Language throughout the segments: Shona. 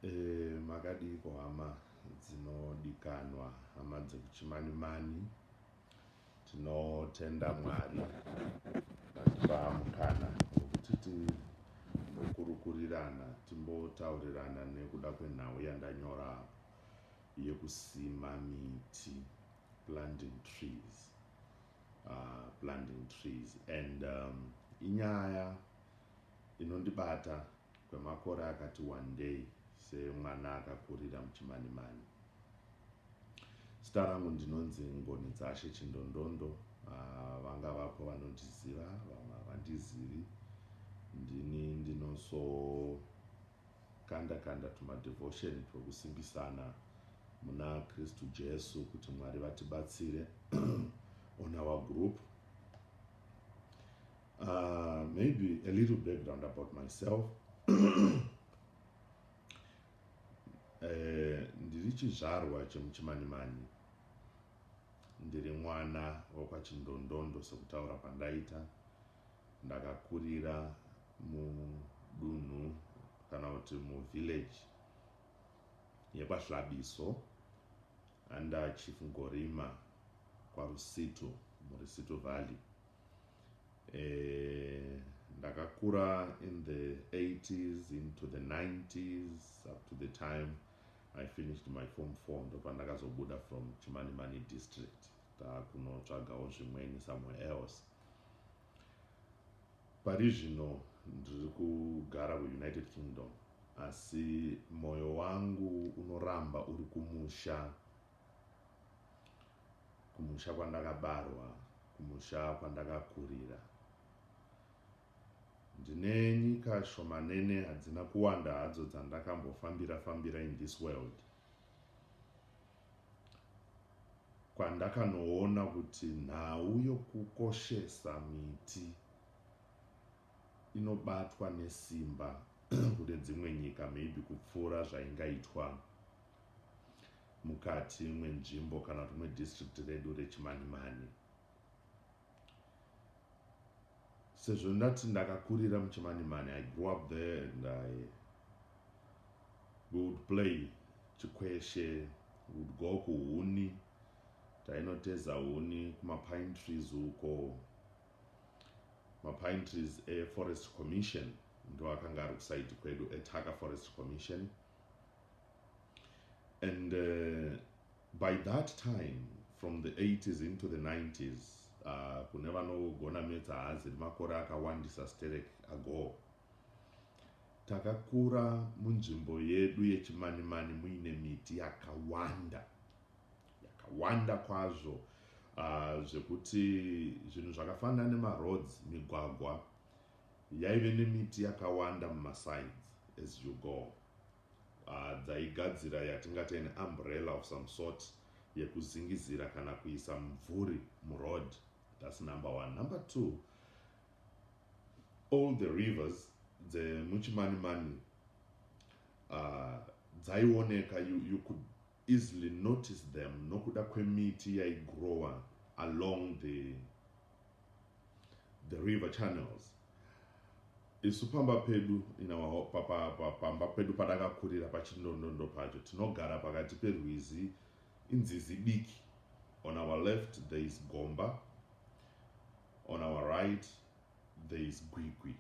Eh, makadiiko hama dzinodikanwa hama dzekuchimanimani tinotenda mwari vatipa mukana wekuti timbokurukurirana timbotaurirana nekuda kwenhau yandanyora yekusima miti planting trees uh, planting trees and um, inyaya inondibata kwemakore akati wandei semwana akakurira muChimanimani. Zita rangu ndinonzi Ngonedzashe Chindondondo, ah, vanga vapo vanondiziva vamwe havandizivi. Ndini ndinosokanda kanda tumadevotion twekusimbisana muna Kristu Jesu kuti Mwari vatibatsire on our group Uh, maybe a little background about myself eh, ndiri chizvarwa chemuchimanimani ndiri mwana wekwachindondhondo sekutaura kwandaita ndakakurira mudunhu kana kuti muvillage yekwahlabiso under chief ngorima kwarusitu murusitu valley Eh, ndakakura in the 80s into the 90s up to the time i finished my form four ndopandakazobuda from chimanimani district takunotsvagawo zvimweni somewhere else pari zvino ndiri kugara kuunited kingdom asi mwoyo wangu unoramba uri kumusha kumusha kwandakabarwa kumusha kwandakakurira ndine nyika shomanene hadzina kuwanda hadzo dzandakambofambira fambira in this world kwandakanoona kuti nhau yokukoshesa miti inobatwa nesimba kune dzimwe nyika maybe kupfuura zvaingaitwa mukati mwenzvimbo kana kuti mwedistrict redu rechimanimani sezvo ndati ndakakurira muchimanimani i grew up there and i we would play chikweshe would go kuhuni tainoteza huni kumapine trees uko mapine trees eforest commission ndoakanga ari kusaidi kwedu etaka forest commission and uh, by that time from the 80s into the 90s uh, kune vanogona metsa haazi makore akawandisa sterek ago takakura munzvimbo yedu yechimanimani muine miti yakawanda yakawanda kwazvo uh, zvekuti zvinhu zvakafanana nemaroads migwagwa yaive nemiti yakawanda mumasides as you go uh, dzaigadzira yatingati an umbrella of some sort yekuzingizira kana kuisa mvuri muroad thats number one number two all the rivers dzemuchimanimani uh, dzaioneka you, you could easily notice them nokuda kwemiti yaigrower along the the river channels isu pamba pedu pamba pedu padakakurira pachindondondo pacho tinogara pakati perwizi inzizi diki on our left there is gomba on our right there is gwigwi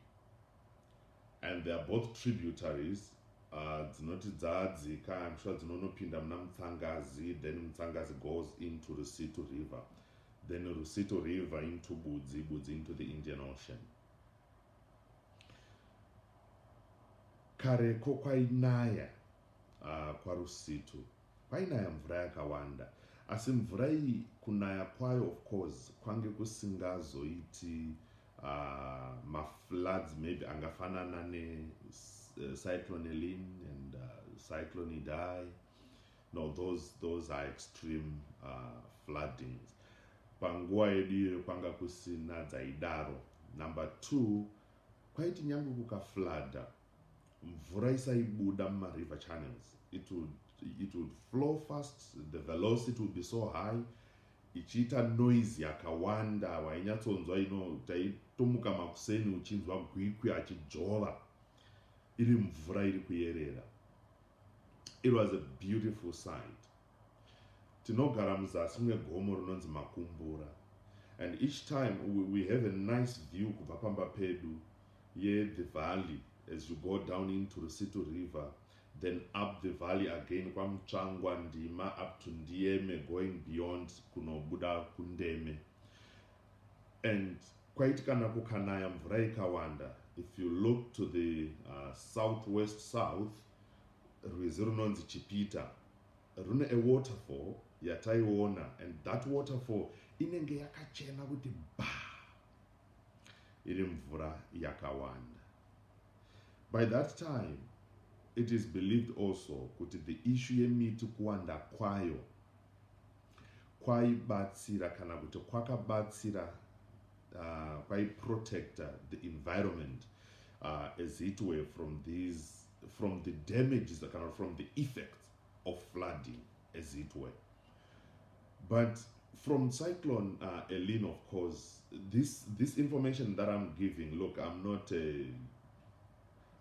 and they are both tributaries uh, dzinoti dzadzika I'm sure dzinonopinda muna Mutsangazi then Mutsangazi goes into Rusitu river then Rusitu river into Budzi Budzi into the Indian Ocean kareko kwainaya Ahh kwaRusitu kwainaya mvura yakawanda asi mvura iyi kunaya kwayo of course kwange kusingazoiti ahh mafloods maybe angafanana ne cyclone Eline and cyclone Idai no those those are extreme ahh floodings panguva yedu iyoyo kwanga kusina dzaidaro number two kwaiti nyangwe kukaflooda Mvura isaibuda muma river channels it would, it would flow fast the velocity would be so high ichiita noise yakawanda wainyatsonzwa ino taitomuka makuseni uchinzwa gwikwi achidzvova iri mvura iri kuyerera it was a beautiful sight Tinogara muzasi mwegomo rinonzi Makumbura and each time we, we have a nice view kubva pamba pedu ye the valley as you go down into Rusitu river then up the valley again kwaMutsvangwa Ndima up to Ndiyeme going beyond kunobuda kuNdeme and kwaiti kana kukanaya mvura ikawanda if you look to the uh, southwest south rwizi runonzi Chipita rune a waterfall yataiona and that waterfall inenge yakachena kuti ba iri mvura yakawanda by that time it is believed also kuti the issue yemiti kuwanda kwayo kwaibatsira kana kuti kwakabatsira uh, kwaiprotecta the environment uh, as it were from these from the damages kana from the effects of flooding as it were but from cyclone uh, elin of course this this information that i'm giving look i'm not a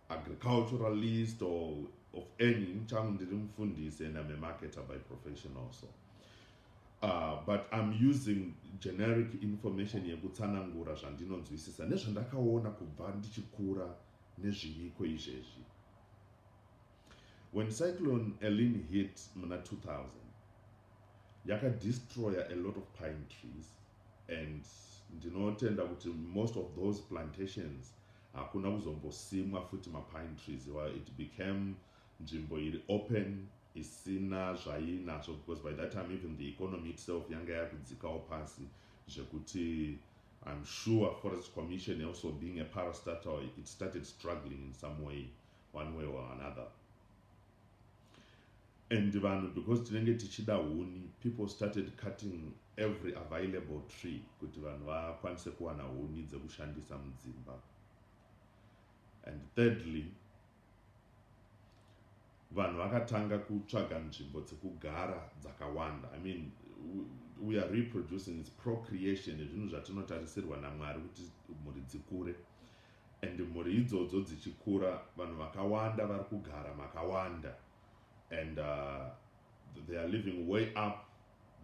agriculturalist or of any changu ndiri mufundisi and i'm a marketer by profession also uh, but i'm using generic information yekutsanangura zvandinonzwisisa nezvandakaona kubva ndichikura Nezviiko izvezvi? When cyclone Eline hit muna 2000 yaka destroyer a lot of pine trees and ndinotenda kuti most of those plantations hakuna kuzombosimwa futi mapine trees iwayo it became nzvimbo iri open isina zvainazvo because by that time even the economy itself yanga yakudzikawo pasi zvekuti I'm sure forest commission also being a parastatal it started struggling in some way one way or another and vanhu because tinenge tichida huni people started cutting every available tree kuti vanhu vakwanise kuwana huni dzekushandisa mudzimba and thirdly vanhu vakatanga kutsvaga nzvimbo dzekugara dzakawanda i mean we are reproducing its procreation zvinhu zvatinotarisirwa namwari kuti mhuri dzikure and mhuri idzodzo dzichikura vanhu vakawanda vari kugara makawanda and uh, they are living way up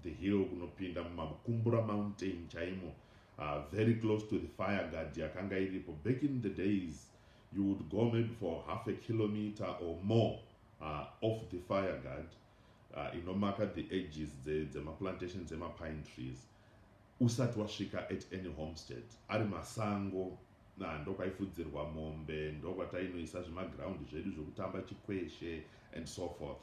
the hill kunopinda mumakumbura mountain chaimo uh, very close to the fire guard yakanga iripo back in the days You would go maybe for half a kilometer or more uh, off the fire guard uh, inomaka the edges dzemaplantation dze dzemapine trees usati wasvika at any homestead ari masango na ndokwaifudzirwa mombe ndokwatainoisa zvemaground zvedu zvekutamba chikweshe and so forth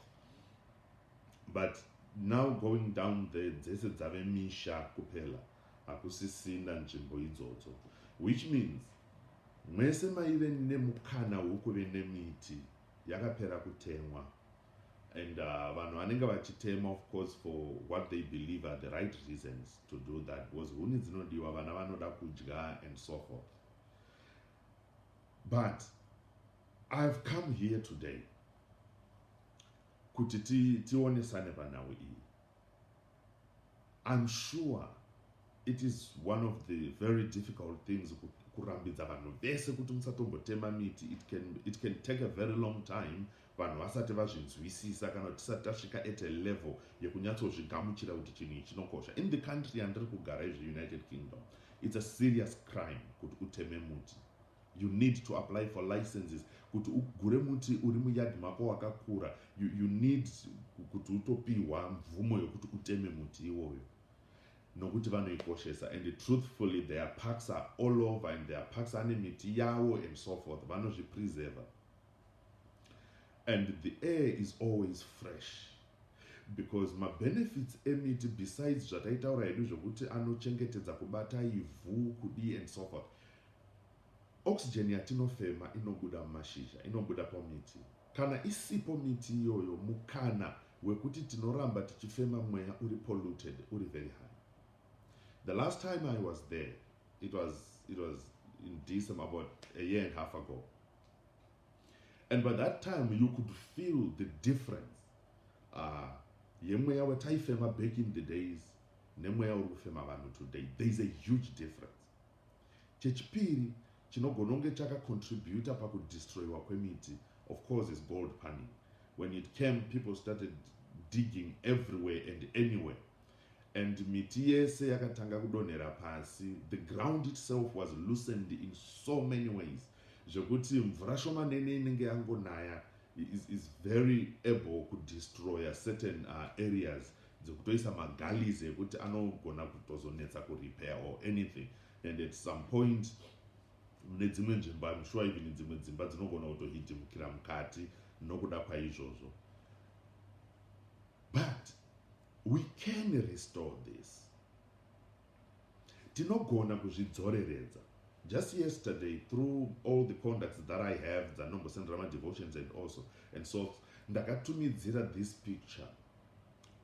but now going down there dzese dzave misha kupela Hakusisina nzvimbo idzodzo which means mwese maive nemukana wekuve nemiti yakapera kutemwa and uh, vanhu uh, vanenge vachitema of course for what they believe are the right reasons to do that because huni dzinodiwa vana vanoda kudya and so forth but ihave come here today kuti tionesane ti panhau iyi I'm sure it is one of the very difficult things kurambidza vanhu vese kuti musatombotema miti it can, it can take a very long time vanhu vasati vazvinzwisisa kana kuti tisati tasvika at a level yekunyatsozvigamuchira kuti chinhu ichi chinokosha in the country yandiri kugara izvi united kingdom it's a serious crime kuti uteme muti You need to apply for licenses kuti ugure muti uri muyard mako wakakura. You, you need kuti utopihwa mvumo yokuti uteme muti iwoyo nokuti vanoikoshesa and truthfully their parks are all over and their parks ane miti yawo and so forth vanozvipreserver and the air is always fresh because mabenefits emiti besides zvataitaura hedu zvekuti anochengetedza kubata ivhu kudii and so forth Oxygen yatinofema inobuda mumashizha, inobuda pamiti. Kana isipo miti iyoyo mukana wekuti tinoramba tichifema mweya uri polluted uri very high. The last time I was there, it was, it was in December, about a year and a half ago. And by that time, you could feel the difference. Uh, yemweya wataifema back in the days nemweya uri kufema vanhu today there is a huge difference Chechipiri chinogona kunge chaka contributor paku destroyiwa kwemiti of course is gold panning. When it came people started digging everywhere and anywhere and miti yese yakatanga kudonhera pasi. The ground itself was loosened in so many ways zvekuti mvura shomanene inenge yangonaya is, is very able kudestroya certain uh, areas dzekutoisa magalies ekuti anogona kutozonetsa kurepair or anything and at some point mune dzimwe nzvimbo im sure even dzimwe dzimba dzinogona kutohidhimukira mukati nokuda kwaizvozvo but we can restore this tinogona kuzvidzoreredza just yesterday through all the conducts that i have dzanombosendera madevotions and also and so ndakatumidzira this picture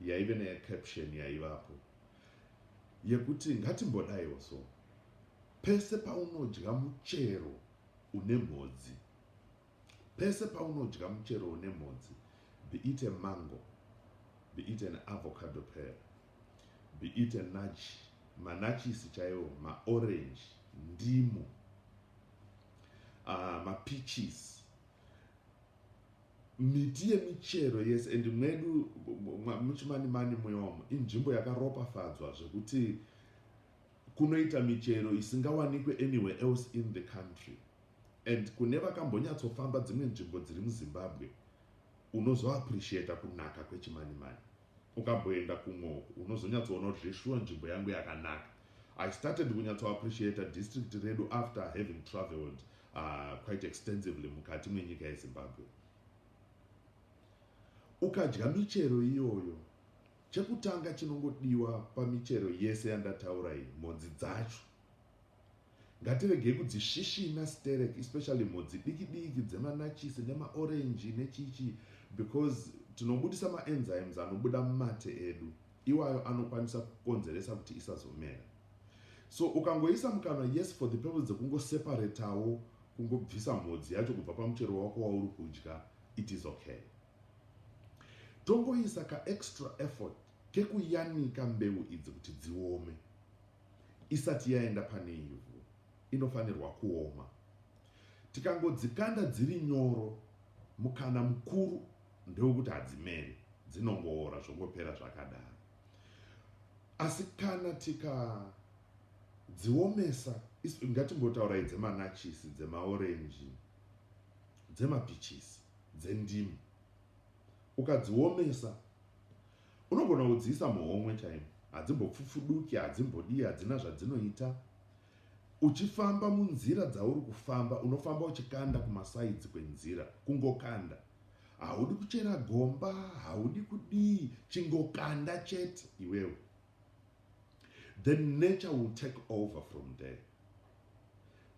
yaive necaption yaivapo yekuti ngatimbodaiwo so pese paunodya muchero une mhodzi pese paunodya muchero une mhodzi be it a mango be it an avocado pear be it a nutch manachisi chaiwo maorange ndimu uh, ah, mapeaches Miti yemichero yese and mwedu muChimanimani muyomo inzvimbo yakaropafadzwa zvekuti kunoita michero isingawanikwe anywhere else in the country and kune vakambonyatsofamba dzimwe nzvimbo dziri muzimbabwe unozoappreciata kunaka kwechimanimani ukamboenda kumwe uku unozonyatsoona kuti zveshuwa nzvimbo yangu yakanaka i started kunyatsoappreciata district redu after having travelled uh, quite extensively mukati mwenyika yezimbabwe ukadya michero iyoyo chekutanga chinongodiwa pamichero yese yandataura iyi mhodzi dzacho Ngatiregei kudzisvisvina sterek especially mhodzi diki diki dzemanachisi nemaorenji nechichi because tinobudisa maenzymes anobuda mumate edu iwayo anokwanisa kukonzeresa kuti isazomera. So ukangoisa mukanwa yes for the purpose dzekungoseparetawo kungobvisa mhodzi yacho kubva pamuchero wako wauri kudya it is okay. Tongoisa kaextra effort kekuyanika mbeu idzi kuti dziome. isati yaenda pane ivhu inofanirwa kuoma. Tikangodzikanda dziri nyoro, mukana mukuru ndewekuti hadzimere, dzinongoora zvongopera zvakadaro. Asi kana tika dziomesa ngatimbotaurayi dzemanachisi dzemaorenji dzemapichisi dzendimi ukadziomesa Unogona kudziisa muhomwe chaimo, hadzimbopfupfuduki, hadzimbodii, hadzina zvadzinoita. Uchifamba munzira dzauri kufamba, unofamba uchikanda kumasaidzi kwenzira, kungokanda. Haudi kuchera gomba, haudi kudii, chingokanda chete iwewe. The nature will take over from there.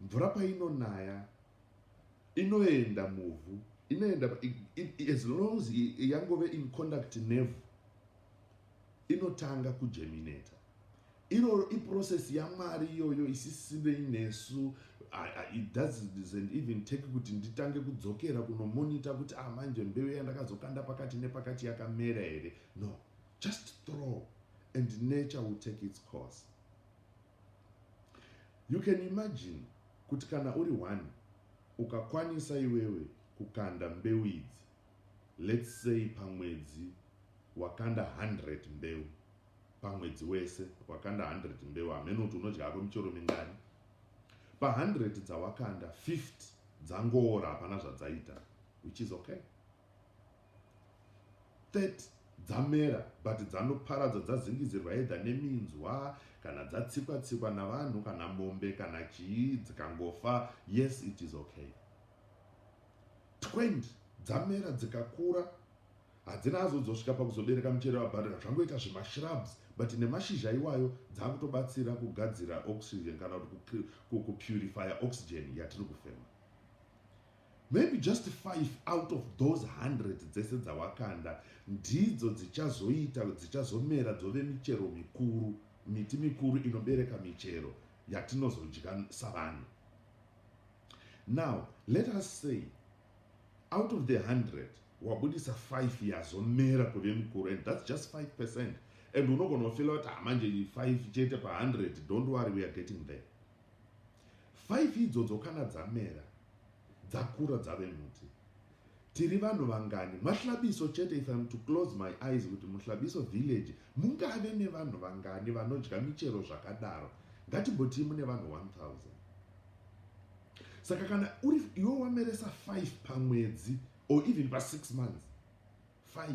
Mvura painonaya inoenda muvhu inoenda as long as yangove in conduct nevu inotanga kujemineta iroro iprocess yamwari iyoyo isisinei nesu it doesn't even take kuti nditange kudzokera kunomonita kuti ah manje mbeu yandakazokanda pakati nepakati yakamera here no just throw and nature will take its course you can imagine kuti kana uri one ukakwanisa iwewe kukanda mbeu idzi let's say pamwedzi wakanda 100 mbeu pamwedzi wese wakanda 100 mbeu hameno kuti unodya hako michero mingani pa 100 dzawakanda 50 dzangoora hapana zvadzaita which is okay 30 dzamera but dzanoparadzwa dzazingizirwa either neminzwa kana dzatsikwa tsikwa navanhu kana mombe kana chii dzikangofa yes it is okay 20 dzamera dzikakura hadzina azodzosvika pakuzobereka muchere wabharira zvangoita zvemashrubs but nemashizha iwayo dzakutobatsira kugadzira oxygen kana kuti kupurifya oxygen yatiri kufema Maybe just five out of those hundred dzese dzawakanda ndidzo dzichazoita dzichazomera dzove michero mikuru miti mikuru inobereka michero yatinozodya savanhu now let us say out of the hundred wabudisa five yazomera kuve mikuru and thats just five percent and unogona kufila kuti hamanje ah, five chete pahundred don't worry weare getting there Five idzodzo kana dzamera dzakura dzave muti tiri vanhu vangani mahlabiso chete if im to close my eyes kuti muhlabiso village mungave nevanhu vangani vanodya michero zvakadaro ngatimbotii mune vanhu 1000 saka kana uri iwe wameresa 5 pamwedzi or even pa6 months 5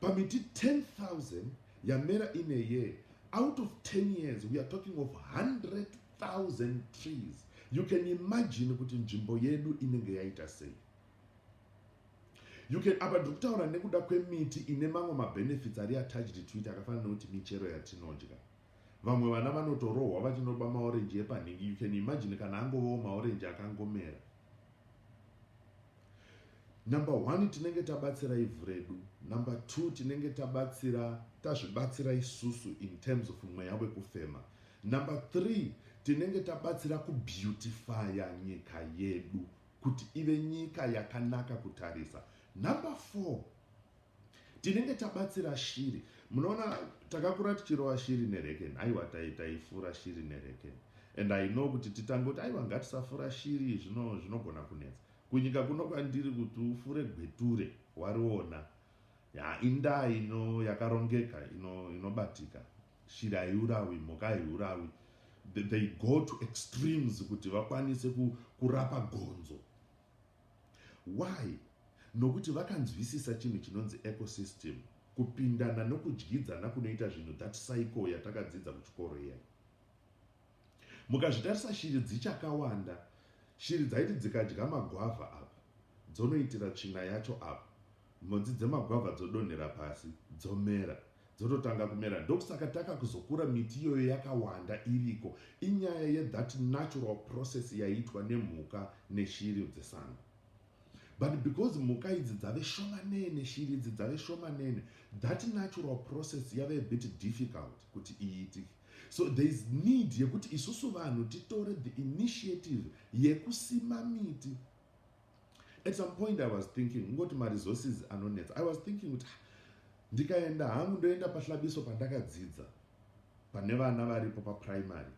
pamiti 10000 yamera in a year out of 10 years we are talking of 100000 trees you can imagine kuti nzvimbo yedu inenge yaita sei you can apa ndiri kutaura nekuda kwemiti ine mamwe mabenefits ari attached to it akafanana nekuti michero yatinodya Vamwe vana vanotorohwa vachinoba maorenji epanhingi you can imagine kana angovawo maorenji akangomera. Number one tinenge tabatsira ivhu redu. Number two tinenge tabatsira tazvibatsira isusu in terms of mweya wekufema. Number three tinenge tabatsira kubeautifya nyika yedu kuti ive nyika yakanaka kutarisa. Number four tinenge tabatsira shiri munoona takakura tichirova shiri nereken aiwa taifura shiri nereken and i know kuti titange kuti aiwa ngatisafura shiri zvinogona kunetsa kunyika kuno kwandiri kuti ufure gweture wariona ya indaa ino yakarongeka inobatika ino shiri haiurawi mhuka haiurawi they go to extremes kuti vakwanise kurapa gonzo Why? Nokuti vakanzwisisa chinhu chinonzi ecosystem, kupindana nokudyidzana kunoita zvinhu, that cycle yatakadzidza kuchikoro iya. Mukazvitarisa shiri dzichakawanda, shiri dzaiti dzikadya magwavha apa, dzonoitira tsvina yacho apa, Mhodzi dzemagwavha dzodonhera pasi dzomera dzototanga kumera ndokusaka takakuzokura miti iyoyo yakawanda iriko inyaya yethat natural process yaiitwa nemhuka neshiri dzesango but because mhuka idzi dzave shomanene shiri idzi dzave shomanene that natural process yave a bit difficult kuti iitike so there is need yekuti isusu vanhu titore the initiative yekusima miti at some point i was thinking kungoti maresources anonetsa i was thinking kuti ah, ndikaenda hangu ndoenda pahlabiso pandakadzidza pane vana varipo paprimary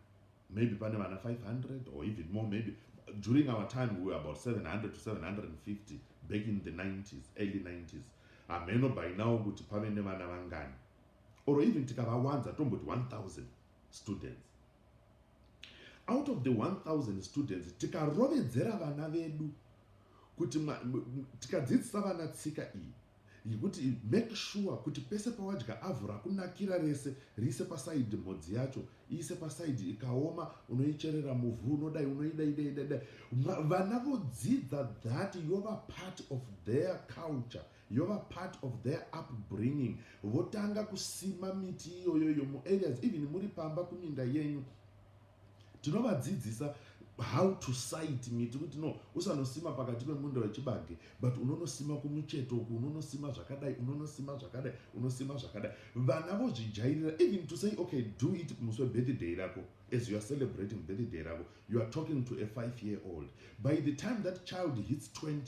maybe pane vana 500 or even more maybe during our time we were about 700 to 750 back in the 90s early 90s hameno by now kuti pave nevana vangani or even tikavawanza tomboti 1000 students out of the 1000 students tikarovedzera vana vedu kuti tikadzidzisa vana tsika iyi yekuti make sure kuti pese pawadya avhu rakunakira rese riise pasaidi mhodzi yacho iise pasaidi ikaoma unoicherera muvhu unodai unoidaidaidadai vana vodzidza that yova part of their culture yova part of their upbringing votanga kusima miti iyoyo iyo muareas even muri pamba kuminda yenyu tinovadzidzisa how to site miti kuti no usanosima pakati pemunda wechibage but unonosima kumucheto uku unonosima zvakadai unonosima zvakadai unosima zvakadai vana vozvijairira even to say okay do it musi webirthday rako as you are celebrating birthday rako you are talking to a five year old by the time that child hits 20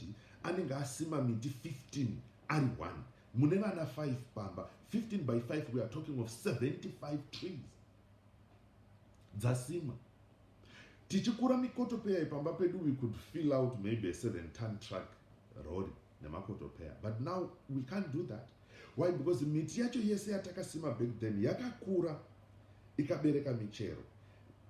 anenge asima miti 15 ari one mune vana 5 pamba 15 by 5 we are talking of 75 trees dzasimwa tichikura mikotopeya ipamba pedu we could fill out maybe a seven ton truck rori nemakotopeya but now we can't do that why because miti yacho yese yatakasima back then yakakura ikabereka michero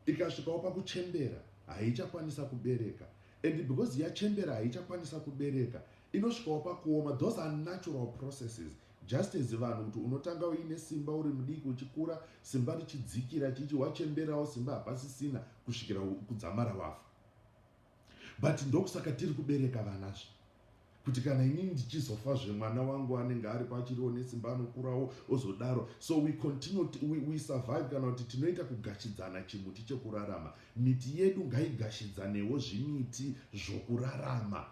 ikasvikawo pakuchembera haichakwanisa kubereka and because yachembera haichakwanisa kubereka inosvikawo pakuoma those are natural processes just as vanhu kuti unotanga uine simba uri mudiki uchikura simba richidzikira chichi wachemberawo simba hapasisina kusvikira kudzamara wafa but ndokusaka tiri kubereka vanazvo kuti kana inini ndichizofazve mwana wangu anenge aripo achiriwo nesimba anokurawo ozodaro so we continue we, we survive kana kuti tinoita kugashidzana chimuti chekurarama miti yedu ngaigashidzaneo zvimiti zvokurarama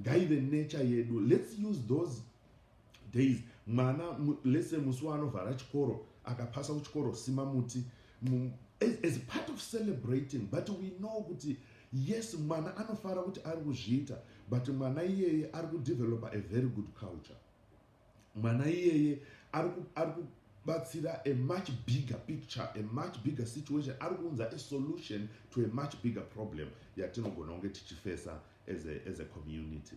ngaive nature yedu let's use those days mwana lese musi waanovhara chikoro akapasa kuchikoro sima muti as, as part of celebrating but we know kuti yes mwana anofara kuti ari kuzviita but mwana iyeye ari kudevelopa a very good culture mwana iyeye ari kubatsira a much bigger picture a much bigger situation ari kuunza a solution to a much bigger problem yatinogona kunge tichifesa as a, as a community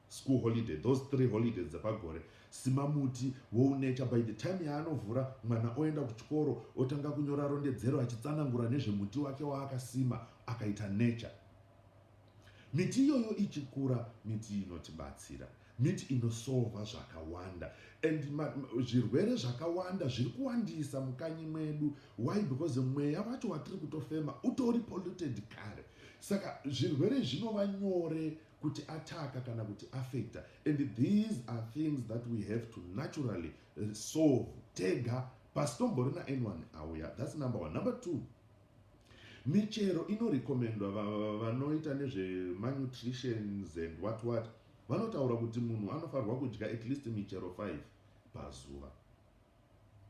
school holiday those three holidays dzepagore sima muti wounature by the time yaanovhura mwana oenda kuchikoro otanga kunyora rondedzero achitsanangura nezvemuti wake waakasima akaita nature miti iyoyo ichikura miti inotibatsira miti inosova zvakawanda and zvirwere zvakawanda zviri kuwandisa mukanyi mwedu why because mweya wacho watiri kutofema utori polluted kare saka zvirwere zvinova nyore kuti ataka kana kuti affecta and these are things that we have to naturally uh, solve tega pasitomborina anyone auya thats number one number two michero inorecommendwa vanoita nezvemanutritions and what what vanotaura kuti munhu anofanirwa kudya at least michero 5 pazuva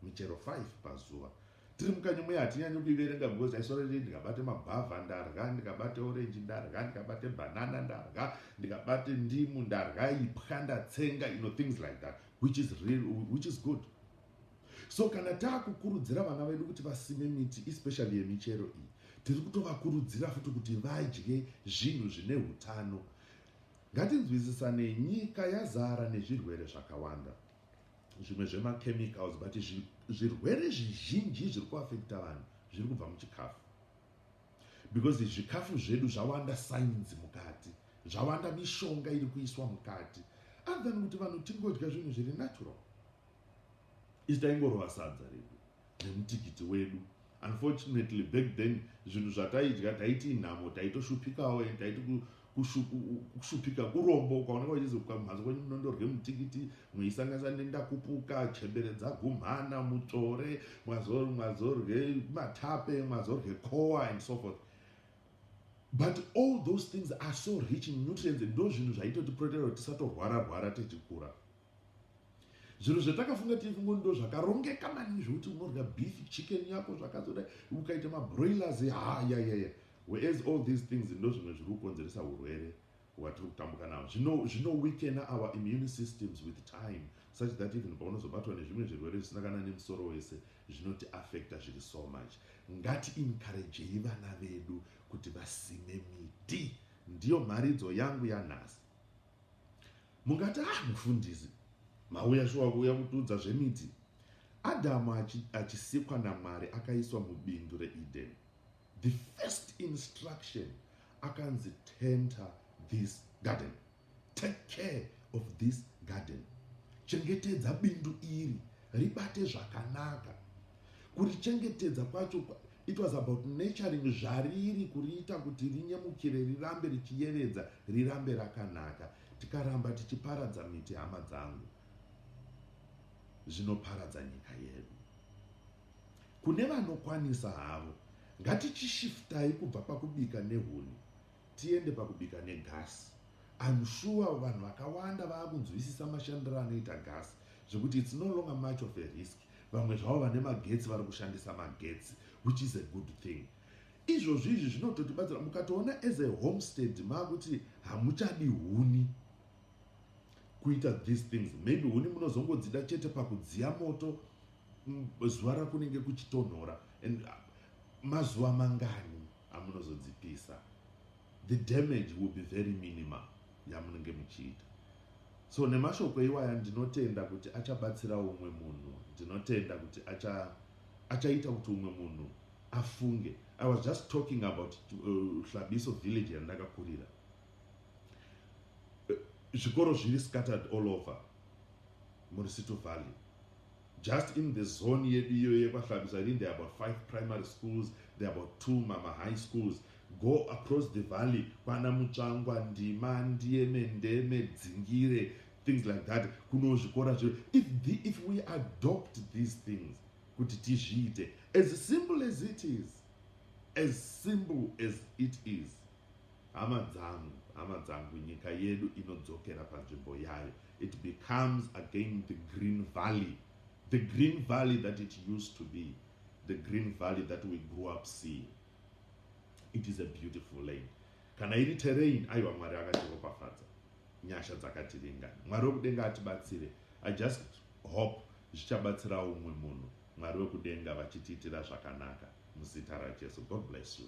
michero 5 pazuva tiri mukanyi muya hatinyanyi kuiverenga because aisorerei ndikabate mabhavha ndarya ndikabate orenji ndarya ndikabate banana ndarya ndikabate ndimu ndarya ipwa ndatsenga you know things like that which is real which is good so kana taakukurudzira vana vedu kuti vasime miti especially yemichero iyi tiri kutovakurudzira futi kuti vadye zvinhu zvine utano ngatinzwisisanei nyika yazara nezvirwere zvakawanda zvimwe zvemachemicals but zvirwere zvizhinji zviri kuafekta vanhu zviri kubva muchikafu because zvikafu zvedu zvawanda sainzi mukati zvawanda mishonga iri kuiswa mukati other than kuti vanhu tingodya zvinhu zviri natural isi taingorova sadza redu nemutikiti wedu unfortunately back then zvinhu zvataidya taiti inhamo taitoshupikawo and taiti kushupika kurombo ukaoneka uchizoka mhanzi kwenyu munondorye mutikiti mweisangisa nendakupuka chembere dzagumhana mutsvore mwazorye matape mwazorye coa and so forth but all those things are so rich in nutrients ndo zvinhu zvaitotiprotera kuti tisatorwara rwara tichikura zvinhu zvatakafunga tirifungo ndo zvakarongeka maningi zvekuti unorya beef chicken yako zvakazoda ukaita mabroilers hayayaya whereas all these things ndo zvimwe zviri kukonzeresa urwere hwatiri kutambuka nawo zvinoweakena zvino our immune systems with time such that even paunozobatwa nezvimwe zvirwere zvisina kana nemusoro wese zvinoti affecta zviri so much ngati encouragei vana vedu kuti vasime miti ndiyo mharidzo yangu yanhasi mungati ah mufundisi mauya shuwa kuuya kutiudza zvemiti adhamu achisikwa namwari akaiswa mubindu reeden the first instruction akanzi tenter this garden take care of this garden chengetedza bindu iri ribate zvakanaka kurichengetedza kwacho It was about nurturing zvariri kuriita kuti rinyemukire rirambe richiyevedza rirambe rakanaka tikaramba tichiparadza miti hama dzangu zvinoparadza nyika yedu kune vanokwanisa havo ngatichishiftai kubva pakubika nehuni tiende pakubika negasi im sure vanhu vakawanda vaakunzwisisa mashandiro anoita gasi zvekuti its no longer much of a risk vamwe zvavo vane magetsi vari kushandisa magetsi which is a good thing izvozvi izvi zvinototibatsira mukatoona as a homestead maakuti hamuchadi huni kuita these things maybe huni munozongodzida chete pakudziya moto mm, zuva rakunenge kuchitonhora and uh, mazuva mangani amunozodzipisa the damage will be very minimal yamunenge muchiita so nemashoko iwaya ndinotenda kuti achabatsira umwe munhu ndinotenda kuti acha achaita kuti umwe munhu afunge i was just talking about uh, hlabiso uh, village yandakakurira zvikoro zviri scattered all over murisito valley Just in the zone yedu iyoyo yekwaHlabisa ini there are about five primary schools, there are about two mama high schools. Go across the valley kwana Mutsvangwa, Ndima, Ndieme, Ndeme, Dzingire, things like that. Kuno zvikora zviro. If, the, if we adopt these things, kuti tizviite, as simple as it is, as simple as it is, Hama dzangu, hama dzangu, nyika yedu inodzokera panzvimbo yayo. It becomes again the green valley. The green valley that it used to be. The green valley that we grew up seeing. It is a beautiful land. Kana iri terrain, aiwa Mwari akatiropafadza. Nyasha dzakatiringana. Mwari wekudenga atibatsire. I just hope zvichabatsira umwe munhu. Mwari wekudenga vachitiitira zvakanaka. Muzita raJesu. God bless you.